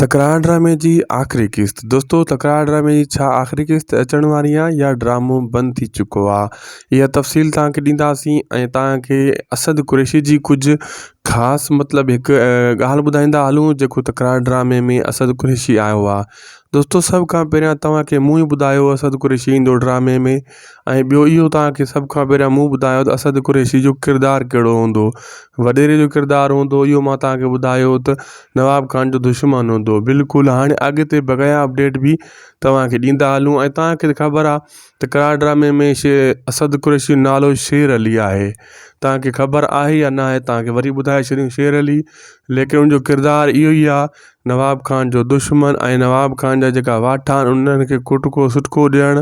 تڪرار ڊرامي جي آخري قسط دوستو تڪرار ڊرامي جي ڇا آخري قسط اچڻ واري آ يا ڊرامو بند ٿي چڪو آ اها تفصيل تانکي ڏينداسين ۽ تانکي اسد قريشي جي ڪجهه خاص مطلب هڪ ڳالهه ٻڌائيندا هلون جيڪو تڪرار ڊرامي ۾ اسد قريشي آيو آ دوستو سڀ کان پهريان تانکي مون ئي ٻڌايو اسد قريشي ايندو ڊرامي ۾ ۽ ٻيو اهو توهان کي سڀ کان پهريان مون ٻڌايو ته اسد قريشي جو ڪردار ڪهڙو هوندو هو وڏيري جو ڪردار هوندو اهو مان توهان کي ٻڌايو ته نواب خان جو دشمن هوندو هو بلڪل هاڻي اڳتي بقايا اپڊيٽ به توهان کي ڏيندا هلون ۽ توهان کي خبر آهي ته قرار ڊرامي ۾ شي اسد قريشي جو نالو شير علي آهي توهان کي خبر آهي يا ناهي توهان کي وري ٻڌائي ڇڏيون شير علي ليڪن ان جو ڪردار اهو ئي آهي نواب خان جو دشمن ۽ نواب خان جا جيڪا واٺا آهن انهن کي ڪٽڪو سٽڪو ڏيڻ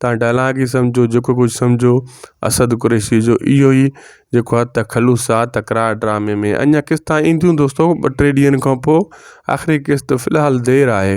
توهان ڊائلاگ ئي سمجهو جيڪو ڪجهه سمجهو اسد قريشي جو اهو ئي جيڪو آهي ته خلوص آ تڪرار ڊرامي ۾ اڃا قسطا اينديون دوستو ٻه ٽي ڏينهن کان پوء آخري قسط في الحال دير آهي.